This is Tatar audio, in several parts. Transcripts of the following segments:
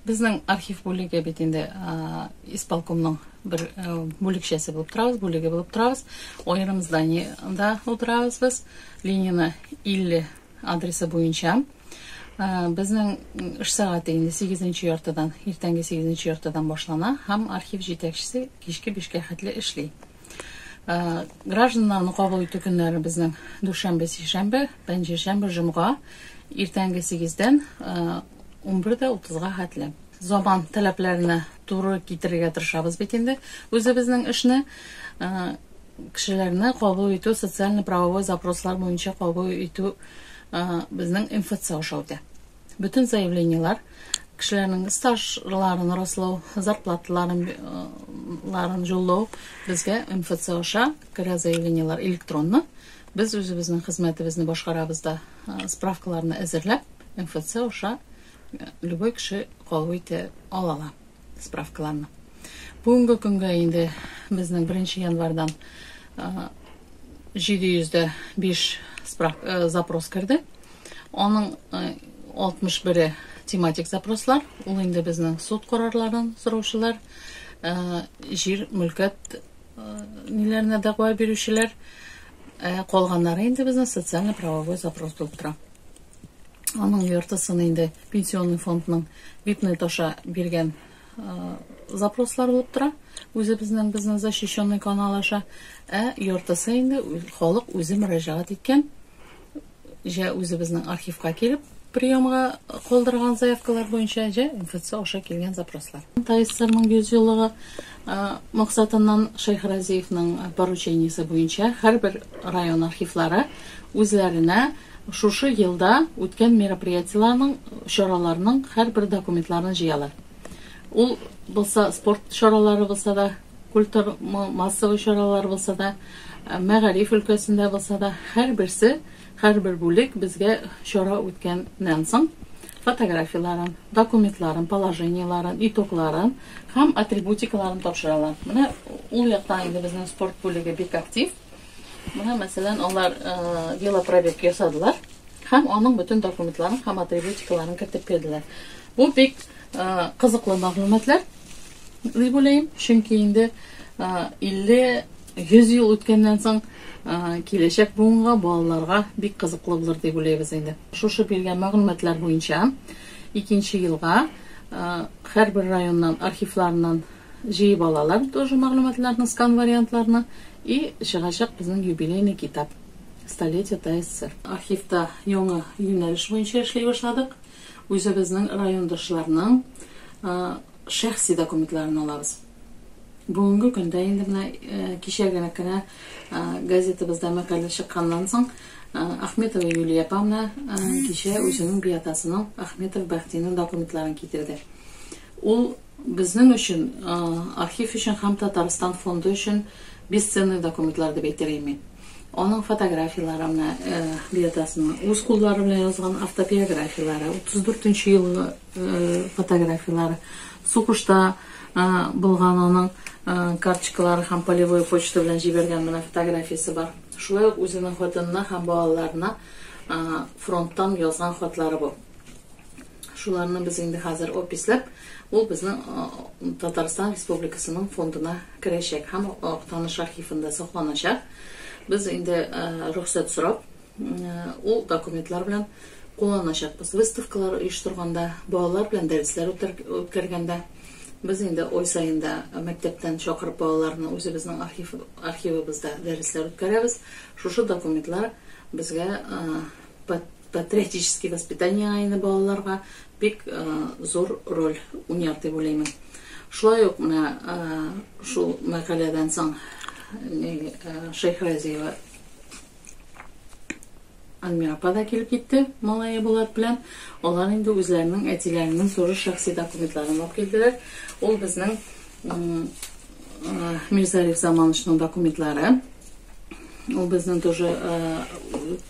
Безнең архив бүлеге бит инде исполкомның бер бүлекчәсе булып торабыз, бүлеге булып торабыз. Аерым зданиеда утырабыз без. Ленина 50 адресы буенча. Безнең эш сәгате инде 8-нче яртыдан, иртәнге 8-нче яртыдан башлана һәм архив җитәкчесе кичке 5-кә хәтле эшли. Гражданнарны кабул итү көннәре безнең дүшәмбе, сишәмбе, пәнҗешәмбе, җомга, иртәнге 8 дән 11 дә 30 га хәтле. Заман таләпләренә туры китерергә тырышабыз бит инде үзебезнең эшне. Кешеләрне кабул итү социально-правовой запрослар буенча кабул итү безнең МФЦ аша үтә. Бөтен заявлениелар кешеләрнең стажларын раслау, зарплаталарын ларын җоллау безгә МФЦ аша керә заявлениелар электронны. Без үзебезнең хезмәтебезне башкарабыз да справкаларны әзерләп МФЦ аша любой кеше кабул итә ала ала. справкаларны. Бүгенге көнгә инде безнең 1 январьдан 705 запрос керде. Аның 61-е тематик запрослар, ул инде безнең суд карарларын сораучылар, җир, мөлкәт ниләренә дәгъва бирүчеләр, калганнары инде безнең социально-правовой запрос булып тора. Аның яртысын инде пенсионный фондның бипнет аша биргән запрослар булып тора. Үзебезнең безнең защищенный канал аша, ә яртысы инде халык үзе мөрәҗәгать иткән. Җә үзебезнең архивка килеп приемга калдырган заявкалар буенча, җә МФЦ аша килгән запрослар. ТАИССРның 100 еллыгы максатыннан Шәйх Разиевның поручениесе буенча һәрбер район архивлары үзләренә шушы елда үткән мероприятиеләрнең, чараларның һәрбер документларын җыялар. Ул булса спорт чаралары булса да, культур массовый чаралар булса да, мәгариф өлкәсендә булса да, һәрберсе Һәрбер бүлек безгә чара үткәннән соң фотографияләрен, документларын, положениеләрен, итогларын һәм атрибутикаларын тапшыралар. Менә ул яктан инде безнең спорт бүлеге бик актив. Менә мәсәлән, алар велопробег ясадылар һәм аның бөтен документларын һәм атрибутикаларын кертеп бирделәр. Бу бик кызыклы мәгълүматлар дип уйлыйм, чөнки инде 50 100 ел үткәннән соң, киләчәк буынга, балаларга бик кызыклы булыр дип уйлыйбыз инде. Шушы биргән мәгълүматлар буенча, икенче елга һәрбер районнан архивларыннан җыеп алалар тоже мәгълүматларны, скан вариантларны и чыгачак безнең юбилейный китап Столетие ТССР. Архивта яңа юнәлеш буенча эшли башладык. Үзебезнең райондашларның шәхси документларын алабыз. Бүгенге көндә инде менә кичәгәрәк кенә газетабызда мәкалә чыкканнан соң, Ахметова Юлия апа менә кичә үзенең биатасының Ахметов Бәхтинең документларын китерде. Ул безнең өчен, архив өчен һәм Татарстан фонды өчен бесценный документлар дип әйтер идем мин. Аның фотографияләре менә биатасының, үз куллары белән язган автобиографияләре, 34 нче елгы фотографияләре, Сугышта булган аның карточкалары һәм полевой почта белән җибәргән менә фотографиясе бар. Шулай ук үзенең хатынына һәм балаларына фронттан язган хатлары бу. Шуларны без инде хәзер описләп, ул безнең Татарстан Республикасының фондына керәчәк һәм Актаныш архивында сакланачак. Без инде рөхсәт сорап, Ул документлар белән кулланачакбыз. Выставкалар оештырганда, балалар белән дәресләр үткәргәндә. Без инде ай саен да мәктәптән чакырып балаларны үзебезнең архив, архивыбызда дәресләр үткәрәбез. Шушы документлар безгә патриотический воспитаниега инде балаларга бик зур роль уйнар дип уйлыймын. Шулай ук менә шул мәкаләдән соң Шәйхразиева Альмира апа да килеп китте, малае Булат белән. Алар инде үзләренең әтиләренең туры шәхси документларын алып килделәр. Ул безнең Мирзариф Заманычның документлары. Ул безнең тоже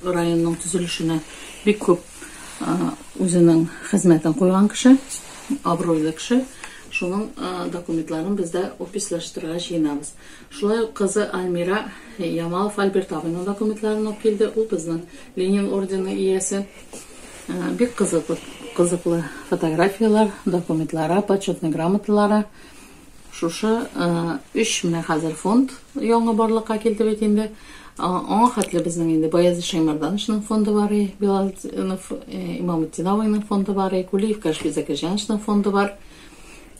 районның төзелешенә бик күп үзенең хезмәтен куйган кеше, абруйлы кеше. Шуның документларын бездә опислаштырырга җыенабыз. Шулай ук кызы Альмира Ямалов Альберт абыйның документларын алып килде. Ул безнең Ленин ордены иясе. Бик кызык, кызыклы фотографияләр, документлары, почетный грамоталары. Шушы өч менә хәзер фонд яңа барлыкка килде бит инде. Аңа хәтле безнең инде Баязит Шәймәрдановичның фонды бар, Билал Имамутдиновның фонды бар, Кулиев Кашфи Закирҗановичның фонды бар.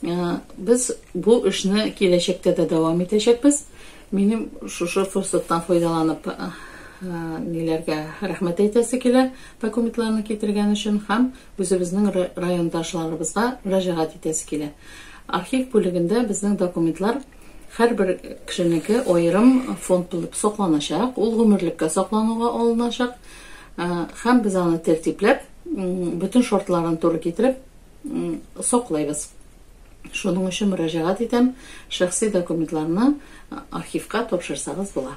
Э, без бу эшне киләчәктә дә дәвам итәчәкбез. Минем шушы форсаттан файдаланып э, э, ниләргә рәхмәт әйтәсе килә документларны китергән өчен һәм үзебезнең райондашларыбызга мөрәҗәгать итәсе килә. Архив бүлегендә безнең документлар һәрбер кешенеке аерым фонд булып сакланачак, ул гомерлеккә саклануга алыначак һәм без аны тәртипләп, бөтен шартларын туры китереп, саклыйбыз. Шуның өчен мөрәҗәгать итәм, шәхси документларны архивка тапшырсагыз була.